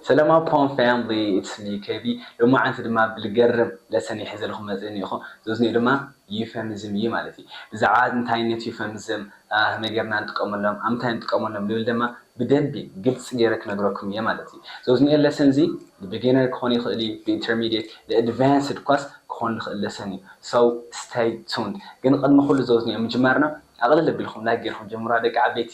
ሰላማዊ ፖም ፋሚሊ ኢትስ ሚ ኬቢ ሎማዓንቲ ድማ ብልገርም ለሰን ሒዘልኩም መጽ እኒእኹ ዘዝኒኡ ድማ ዩፈምዝም እዪ ማለት እዪ ብዛዕባ እንታይነት ዩፈምዝም ኸመይ ገርና ንጥቀመሎም ኣብ ምንታይ ንጥቀመሎም ልብል ደማ ብደንቢ ግልጽ ገይረ ክነግረኩም እየ ማለት እዪ ዘዝኒኤ ለሰን እዚ ንቢገነር ክኾን ይኽእል እዪ ንኢንተርሚዴት ንኣድቫንስድ ኳስ ክኾን ልኽእል ለሰን እዪ ሰው ስተይ ቱንድ ግን ቕድሚ ኹሉ ዘዝኒኦ ምጅማርና ኣቕልል ኣቢልኹም ላይክ ገርኩም ጀምሩዋ ደቂ ዓበይቲ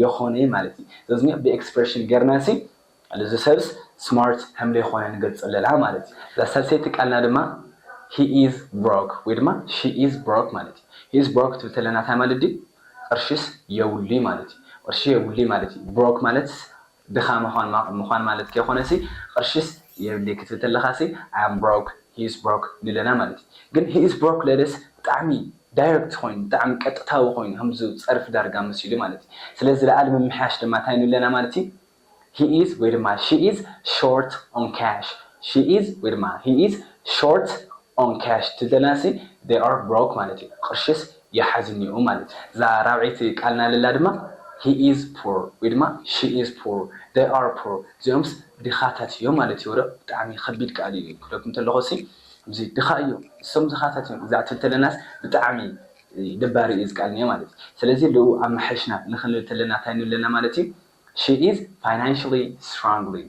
የኾነይ ማለት እዪ ዘዝኒኦ ብ ኤክስፕረሽን ገርና ሲ ኣሉ እዚ ሰብስ ስማርት ሀምለይኾነ ንገልጸለላ ማለት እዪ እዛ ሳልሰይቲ ቃልና ድማ ሂ ኢዝ ብሮክ ወይ ድማ ሺ ኢዝ ብሮክ ማለት እዪ ሂ ኢዝ ብሮክ ክትብል ተለና ታይ ማለት ድዪ ቅርሽስ የብሉይ ማለት እዪ ቅርሺ የብሉይ ማለት እዪ ብሮክ ማለትስ ድኻ ምዃን ማለት ከይኮነሲ ቕርሽስ የብልይ ክትብል ተለኻሲ I am broke He is broke ንብለና ማለት እዩ ግን He is broke ለለስ ብጣዕሚ ዳይረክት ኮይኑ ብጣዕሚ ቀጥታዊ ኮይኑ ከምዚ ፀርፊ ዳርጋ መሲሉ ማለት እዩ ስለዚ ዝለኣለ ምምሕያሽ ድማ ታይ ንብለና ማለት እዩ He is ወይ ድማ She is short on cash She is ወይ ድማ He is short on cash ትደልያሲ they are broke ማለት እዩ ቕርሽስ የሓዝኒኡ ማለት እዩ እዛ ራብዐይቲ ቃልና ልላ ድማ he is poor ወይ ድማ she is poor they are poor እዚኦምስ ድኻታት እዮም ማለት እዩ ወረ ብጣዕሚ ኸቢድ ቃል እዩ ክብለኩም ተለኹሲ እዙይ ድኻ እዩ ንሶም ድኻታት እዮም እዛ ትብል ተለናስ ብጣዕሚ ደባሪ እዩ እዚ ቃል እኒኦ ማለት እዩ ሰለዚ ልኡ ኣማሓይሽና ንኽንብል ተለና ታይ ንብለና ማለት እዩ she is financially struggling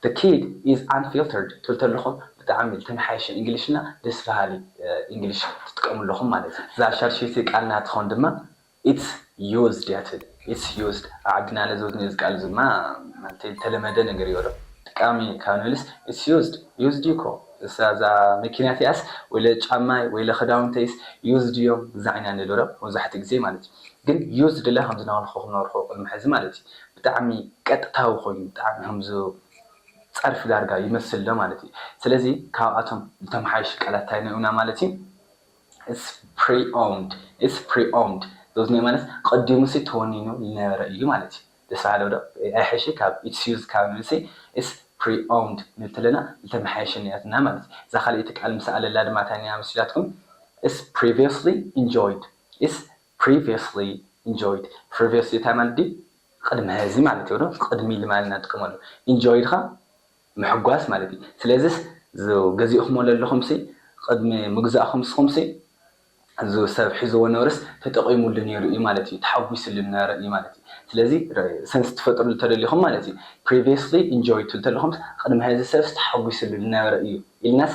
The kid is unfiltered ትብል ተለኹ ብጣዕሚ ዝተመሓየሸ እንግሊሽና ደስ በሃሊ እንግሊሽ ትጥቀሙ ኣለኹም ማለት እዩ። እዛ ሻድሸይቲ ቃል ናትኹም ድማ It's used እያ ትብል It's used ኣብ ዓድና ለዘብ ነዚ ቃል እዚ ድማ ማለተይ ዝተለመደ ነገር እዩ ዶ ጠቃሚ ካብ ንብልስ It's used used እዩ እኮ እሳ እዛ መኪና እቲኣስ ወይለ ጫማይ ወይለ ክዳውንተይስ used እዮም እዛ ኢና ንብል ዶ መብዛሕትኡ ግዜ ማለት እዩ ግን used እለ ከም ዝነበልኩኹም ነበርኹ ቅድሚ ሕዚ ማለት እዩ። ብጣዕሚ ቀጥታዊ ኮይኑ ብጣዕሚ ከምዚ ጸርፊ ዳርጋ ይመስል ዶ ማለት እዩ ስለዚ ካብኣቶም ዝተመሓየሹ ቃላት ታይ ኔኡና ማለት እዩ It's preomed It's preomed those ኔኡ ማለት ቀዲሙሲ ተወኒኑ ልነበረ እዩ ማለት እዩ ደስ በሃሊ ዶ ኣይሐይሽይ ካብ It's used ካብ ንብልሲ It's preomed ክንብል ተለና ልተመሓየሸ ኔያትና ማለት እዩ እዛ ካልኤቲ ቃል ምስ ኣለላ ድማ ታይ ኔያ መሲላትኩም It's previously enjoyed It's Previously enjoyed Previously እንታይ ማለት ድዩ ቕድሚ ሀዚ ማለት እዮ ዶ ቕድሚ ኢሊ ማለት ኢና ንጥቀመሉ Enjoy ድኻ ምሕጓስ ማለት እዩ ስለዚስ እዝ ገዚእኹሞ ለለኹምሲ ቕድሚ ምግዛእኹም ንስኹምሲ እዝ ሰብ ሒዝዎ ነርስ ተጠቒሙሉ ነይሩ እዩ ማለት እዩ ተሓጒስሉ ነይሩ እዩ ማለት እዩ ስለዚ ሰንስ ትፈጥርሉ ተደሊኹም ማለት እዩ Previously enjoyed ትብሉ ተለኹምስ ቕድሚ ሀዚ ሰብስ ተሓጒስሉ ልነበረ እዩ ኢልናስ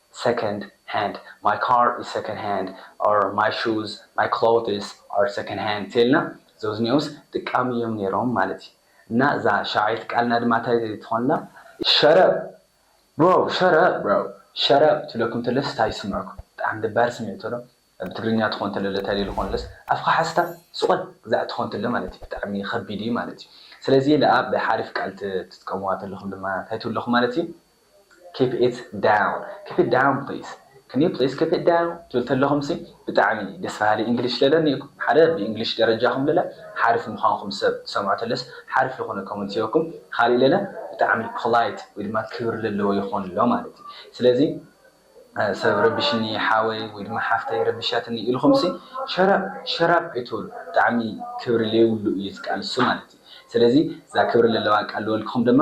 Second hand My car is second hand or My shoes, my clothes are second hand ተልና ዘውዝኒኦውስ ድቃም እዮም ነይሮም ማለት እዩ እና እዛ ሻውዓይቲ ቃልና ድማ ታይ ትኾን ኣላ? Shut up bro Shut up bro Shut up ትብለኩም ተለስ ታይ ይስምዕኩም ብጣዕሚ ደባሪ ስሚዕቶ ዶ ብትግርኛ ትኾን ተሎ ዶ ታይ ልኾን ለስ ኣፍኻ ሓዝካ ስቆል ግዛዕ ትኾን ተሎ ማለት እዩ ብጣዕሚ ኸቢድ እዩ ማለት እዩ ስለዚ ለኣ ብሓሪፍ ቃል ትጥቀምዋ ተለኹም ድማ ታይ ትብሉ ኣለኹም ማለት እዩ keep it down keep it down please can you please keep it down ትብል ተለኹም ሲ ብጣዕሚ ደስ በሃሊ English ለለኒ ኢኩም ሓደ ብ English ደረጃኹም ለለ ሓርፍ ምዃንኩም ሰብ ትሰምዖ ተለስ ሓርፍ ይኹነ comment ሂበኩም ኻሊእ ለለ ብጣዕሚ polite ወይ ድማ ክብሪ ለለዎ ይኾን ኣሎ ማለት እዩ ስለዚ ሰብ ረቢሽኒ ሓወይ ወይ ድማ ሓፍተይ ረቢሻትኒ ኢልኹም ሲ ሸረብ ሸራብ ኣይትበሉ ብጣዕሚ ክብሪ ለይብሉ እዩ እዚ ቃል እሱ ማለት እዩ ስለዚ እዛ ክብሪ ለለዋ ቃል ልበልክኹም ድማ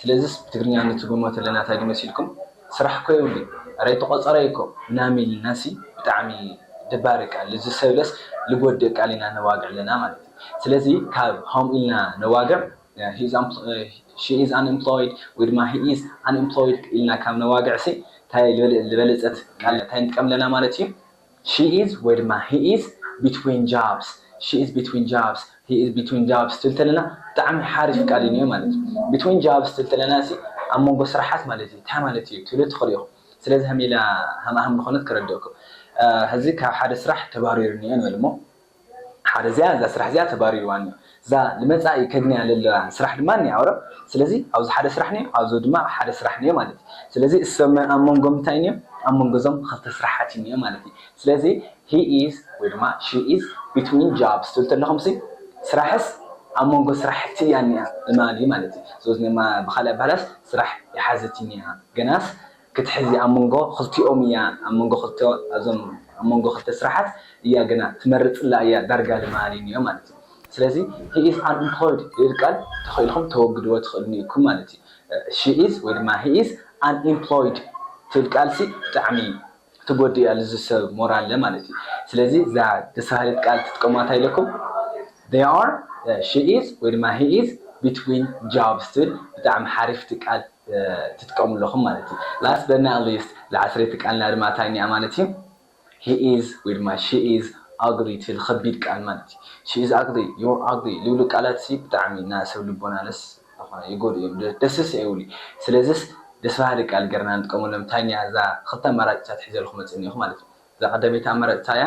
ስለዚስ ብትግርኛ ንትርጉሞ ተለና ታይ ዶ መሲልኩም ስራሕ እኮ የብሉይ እረ ተቆጸረ እዩ እኮ ምናምን ኢልናሲ ብጣዕሚ ደባሪ ቃል ልዚ ሰብለስ ልጎድእ ቃል ኢና ነዋግዕ ኣለና ማለት እዩ ስለዚ ካብ ሀምኡ ኢልና ነዋግዕ ሺ ኢዝ ኣን ኢምፕሎይድ ወይ ድማ ሂ ኢዝ ኣን ኢምፕሎይድ ኢልና ካብ ነዋግዕሲ ታይ ልበለጸት ቃል ታይ ንጥቀም ኣለና ማለት እዩ ሺ ኢዝ ወይ ድማ ሂ ኢዝ ቢትዊን ጃብስ፣ ሺ ኢዝ ቢትዊን ጃብስ፣ ሂ ኢዝ ቢትዊን ጃብስ ትብል ተለና ብጣዕሚ ሓሪፍ ቃል ኢዩ ኒኦ ማለት ኢዩ። ቢትዊን ጃብስ ትብል ተለና እሲ ኣብ መንጎ ስራሓት ማለት ኢዩ። ታይ ማለት ኢዩ ትብሉ ትኽእሉ ኢኹም። ስለዚ ሃም ኢላ ሃም ኣህም ዝኾነት ከረድእኩም። ሀዚ ካብ ሓደ ስራሕ ተባሪሩ ኒኦ ንበል እሞ ሓደ እዚኣ እዛ ስራሕ እዚኣ ተባሪርዋኒ እዩ እዛ ንመጻኢ ከግንያ ለለዋ ስራሕ ድማ እኒኣ ኦረ ስለዚ ኣብዚ ሓደ ስራሕ እኒኦ ኣብዚ ድማ ሓደ ስራሕ እኒኦ ማለት እዩ ስለዚ እሰመ ኣብ መንጎም እንታይ እኒኦ ኣብ መንጎ እዞም ክልተ ስራሓት እዩ እኒኦ ማለት እዩ ስለዚ he is ወይ ድማ she is between jobs ትብሉ ተለኹም ሲ ስራሕስ ኣብ መንጎ ስራሕቲ እያ እኒኣ እማሊ ማለት እዩ ዞዝኔማ ብኻሊእ ኣባህላስ ስራሕ ይሓዘት እዩ እኒኣ ገናስ ክትሕዚ ኣብ መንጎ ክልቲኦም እያ ኣብ መንጎ ክልተ ኣብዞም ኣብ መንጎ ክልተ ስራሓት እያ ግና ትመርጽላ እያ ዳርጋ ድማ ኣልዩኒዮ ማለት እዩ ስለዚ he is unemployed ልብል ቃል ተኺእልኩም ተወግድዎ ትኽእሉኒ ኢኩም ማለት እዩ she is ወይ ድማ he is unemployed ትብል ቃል ሲ ብጣዕሚ ትጎድእ እያ ልዚ ሰብ ሞራለ ማለት እዩ ስለዚ እዛ ደስ በሃሊት ቃል ትጥቀሙዋ እንታይ ኢለኩም they are she is ወይ ድማ he is between jobs ትብል ብጣዕሚ ሓሪፍቲ ቃል ትጥቀሙ ኣለኹም ማለት እዩ። Last but not least ዝዓስረይቲ ቃልና ድማ ታይ እኒኣ ማለት እዩ He is ወይ ድማ She is ugly ትብል ኸቢድ ቃል ማለት እዩ። She is ugly፣ You're ugly ልብሉ ቃላት እሲ ብጣዕሚ ን ሰብ ልቦና ለስ ዝኾነ ይጎድኡ እዮም ደስስ ኣይብሉ ስለዝስ ደስ በሃሊ ቃል ገርና ንጥቀመሎም ታይ እኒኣ እዛ ኽልተ ኣማራጭታት ሒዘልኹም መፅእ እኒኦኹ ማለት እዩ። እዛ ቐዳመይቲ ኣማራጭ ታይ እያ?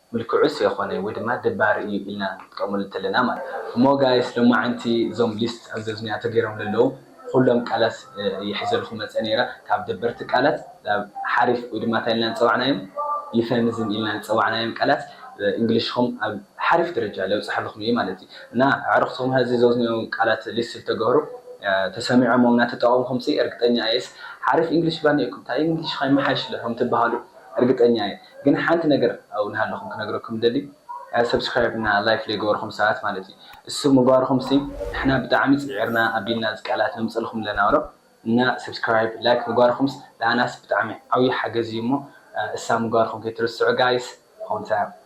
ምልክዑስ የኾነ ወይ ድማ ደባሪ እዩ ኢልና ክንጥቀመሉ እንተለና ማለት እዩ። እሞ ጋይስ ሎማዓንቲ እዞም ሊስት ኣብ ዘዝንያ ተገይሮም ለለዉ ኹሎም ቃላት እየ ሒዘልኹም መፀ ነይረ ካብ ደበርቲ ቃላት ናብ ሓሪፍ ወይ ድማ ታይ ኢልና ዝፀዋዕናዮም ዩፈምዝም ኢልና ዝፀዋዕናዮም ቃላት እንግሊሽኹም ኣብ ሓሪፍ ደረጃ ለብፀሐልኹም እየ ማለት እዩ እና ኣዕርኽትኹም ሀዚ ዘዝንዮም ቃላት ሊስት ልተገህሩ ተሰሚዖሞም ናተጠቐምኹምሲ እርግጠኛ እየስ ሓሪፍ እንግሊሽ ባኒእኩም ታይ እንግሊሽኻ ይመሓየሽለ ኹም ትባሃሉ እርግጠኛ እየ። ግን ሓንቲ ነገር ኣው ናሃለኹም ክነግረኩም ዝደሊ subscribe እና like ለይገበርኹም ሰባት ማለት እዩ እሱ ምግባርኹም ሲ ንሕና ብጣዓሚ ጺዒርና ኣቢልና እዚ ቃላት ነምጽእልኹም ለና እሮ እና subscribe like ምግባርኹምስ ለኣናስ ብጣዓሚ ዓውይ ሓገዝ እዩ እሞ እሳ ምግባርኹም ከይትርስዑ guys ሆምታ